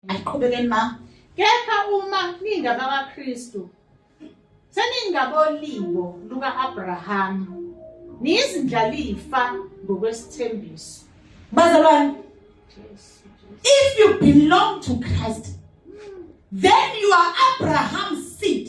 Ayiqhubekeni ma. Kepha uma ningabakwaKristu seningabolibo luka-Abrahama niyizindlalifa ngokwesithembiso. Bazalwane, if you belong to Christ, then you are Abraham's seed.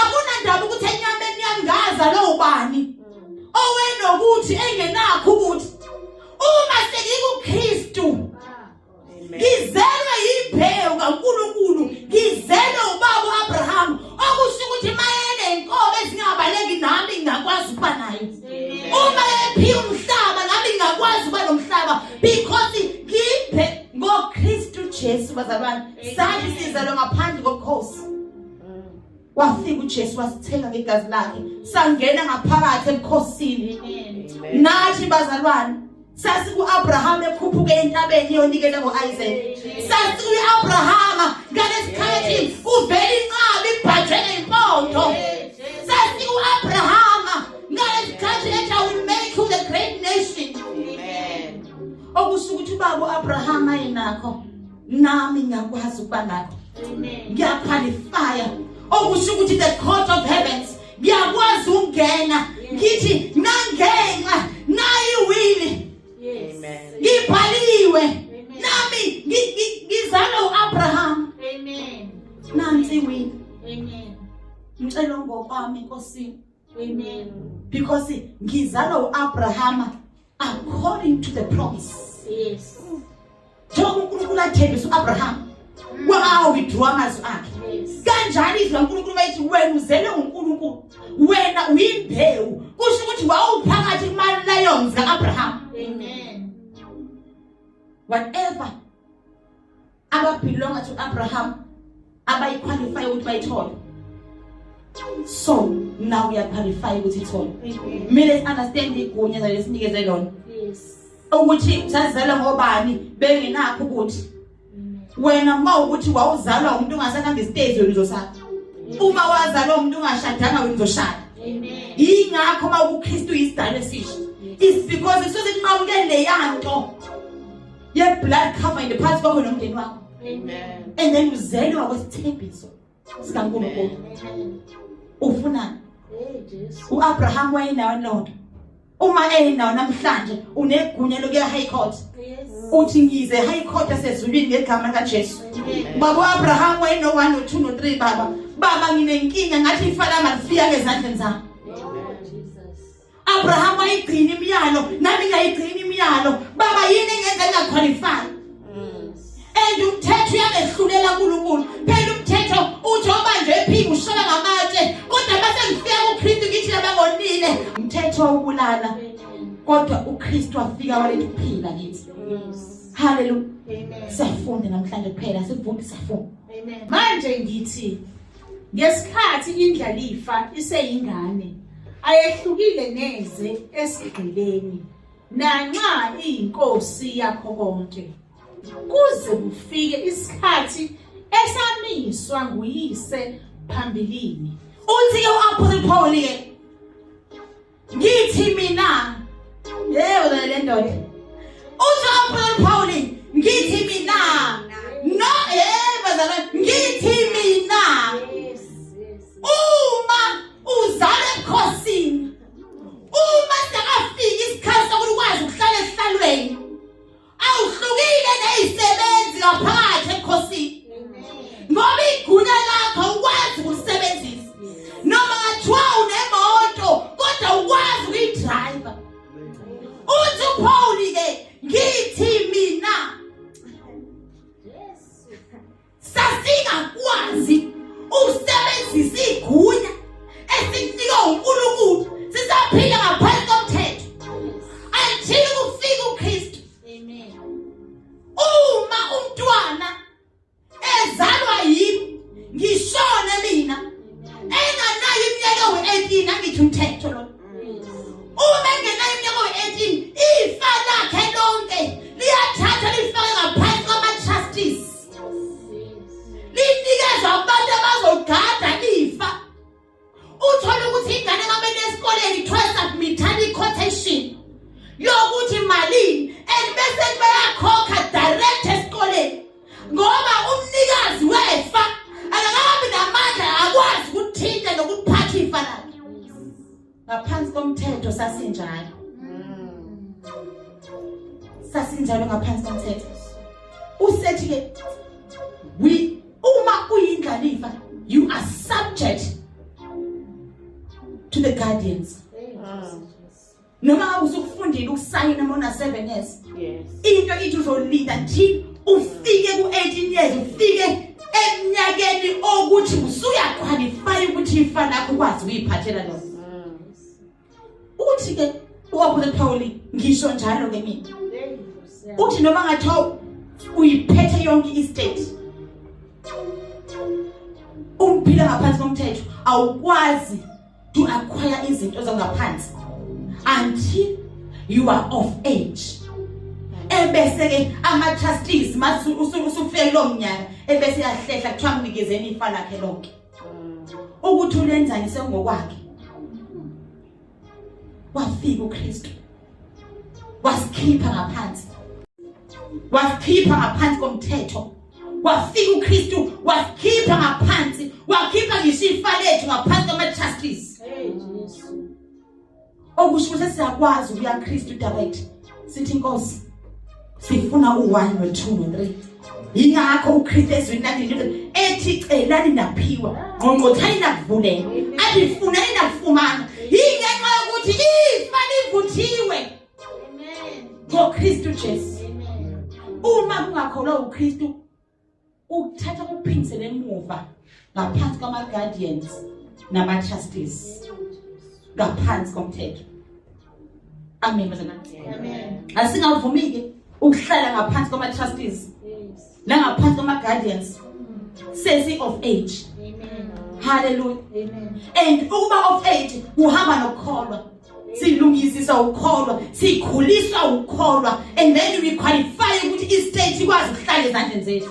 akunandaba ukuthi enyameni yami ngazalwe ubani owenokuthi engenakho ukuthi uma sengikuKristu ngizelwe yimbewu kaNkuluNkulu ngizelwe ubaba uAbraham okusho ukuthi mayene inkobe ezingabaleki nami ngingakwazi ukuba nayo uma ephiwa umhlaba nami ngingakwazi ukuba nomhlaba because ngiphe ngoKristu Jesu bazalwane sathi sizalwe ngaphandle kokhosi wafika uJesu wasithenga ngegazi lakhe sangena ngaphakathi ebukhosini nathi bazalwane sasi kuAbraham ekhuphuke entabeni yonikele ngoIsaac sasi uAbraham ngalesikhathi uvela inqabi ibhajele impondo sasi uAbraham ngalesikhathi ethi I will make you the great nation okusukuthi ubaba uAbraham ayinakho nami ngiyakwazi ukuba ngakho ngiyakhwalifaya okusho ukuthi the court of heavens ngiyakwazi ukungena ngithi nangenxa nayi wini ngibhaliwe nami ngizalwe uAbraham amen nansi wini amen ngicela ngokwami nkosini amen because ngizalwe uAbrahama according to the promise yes njengoba uNkulunkulu athembisa uAbraham mm. wa withdraw amazwi akhe kanjani izwi laNkulunkulu bayithi wena uzelwe nguNkulunkulu wena uyimbewu kusho ukuthi wawuphakathi kuma lions kaAbraham amen whatever ababelonga to Abraham abayiqualify ukuthi bayithole so now we are qualified ukuthi ithole kumele understand igunya zalesinikeze lona yes ukuthi sazalwa ngobani bengenakho ukuthi wena uma ukuthi wawuzalwa umuntu ongasakhamba istage wena uzosatha uma wazalwa umuntu ongashadanga wena uzoshada amen ingakho uma uKristu isidalwa esisha is because isuke inqamuke leyanto ye blood cover in the past kwakho nomndeni wakho amen and then uzelwa kwesithembiso sikaNkulunkulu ufuna uAbraham wayenawo lonto uma enawo namhlanje unegunya lokuya high court uthi ngize high court esezulwini ngegama likaJesu baba uAbraham wayeno 1 no 2 no 3 baba baba nginenkinga ngathi ifala malifiya ezandleni zami Abraham wayigcina imiyalo nami ngiyayigcina imiyalo baba yini engenza ngingaqualify mm. and umthetho uyangehlulela uNkulunkulu phela umthetho uthi obanje ephika ushola ngamatshe kodwa base ngifika kuKristu ngithi labangonile umthetho ubulala kodwa uKristu wafika waletha ukuphila kithi haleluya siyafunda namhlanje kuphela sivume siyafunda manje ngithi Ngesikhathi indlalifa iseyingane, ayehlukile neze esigqibeni, nanxa iyinkosi yakho konke. Kuze kufike isikhathi esamiswa nguyise phambilini. Uthi u-Apostle Paul-ke ngithi mina hey wena le ndoda uthi aphula Pauli ngithi mina no hey bazalwa ngithi mina uma uzale ebukhosini uma sekafika isikhathi sokuthi ukwazi ukuhlala esihlalweni awuhlukile nezisebenzi ngaphakathi ebukhosini ngoba igunya lakho ukwazi ukusebenzisa noma ngathiwa unemoto kodwa ukwazi ukuyidrayiva uthi uphawuli ke ngithi mina sasingakwazi ukusebenzisa igunya esikunika uNkulunkulu sisaphila ngaphansi komthetho until kufika uKristu amen uma umntwana ezalwa yimi ngishone mina enganayo iminyaka we-18 angithi umthetho lo uma engena iminyaka we-18 ifa lakhe lonke liyathathwa lifake ngaphansi kwama-trustees linikezwa abantu abazogada ifa uthole ukuthi ingane kamele esikoleni kuthiwa submithani i-quotation yokuthi malini and bese kubeyakhokha direct esikoleni ngoba umnikazi wefa akakabi namandla akwazi ukuthinta nokuphatha ifa lakhe ngaphansi komthetho sasinjalo sasinjalo ngaphansi komthetho usethi ke we uma uyindlalifa you are subject to the guardians noma ngabe usukufundile ukusayina mona 7 years yes into ithi uzolinda nje ufike ku 18 years ufike eminyakeni okuthi usuya qualify ukuthi ifa lakho kwazi uyiphathela lo mm. uthi ke uwaphule Pauli ngisho njalo ke mina uthi noma ngathiwa uyiphethe yonke istate umphila ngaphansi komthetho awukwazi to acquire izinto zangaphansi until you are of age ebese ke ama trustees masu usufele lo mnyaka ebese yahlehla kuthiwa mnikezeni ifa lakhe lonke ukuthi ulenzani sengokwakhe wafika uKristu wasikhipha ngaphansi wasikhipha ngaphansi komthetho wafika uKristu wasikhipha ngaphansi wakhipha ngisho ifa lethu ngaphansi kwama trustees okusho ukuthi siyakwazi ukuya Kristu direct sithi inkosi sifuna u-one no-two no-three yingakho ukhristu ezwini lakhe nje ethi celani naphiwa ngqongqothani nakuvuleka athi funani nakufumana yingenxa yokuthi ifa livuthiwe ngokristu jesu uma kungakholwa ukristu ukuthatha kuphindisele emuva ngaphansi kwama guardians nama trustees ngaphansi komthetho amen bazana amen asingavumi ke ukuhlala ngaphansi kwama trustees nangaphansi kwama guardians sesi of age amen hallelujah amen and ukuba of age kuhamba nokukholwa silungisisa ukukholwa sikhuliswa ukukholwa and then we qualify ukuthi i-state ikwazi ukuhlala ezandleni zethu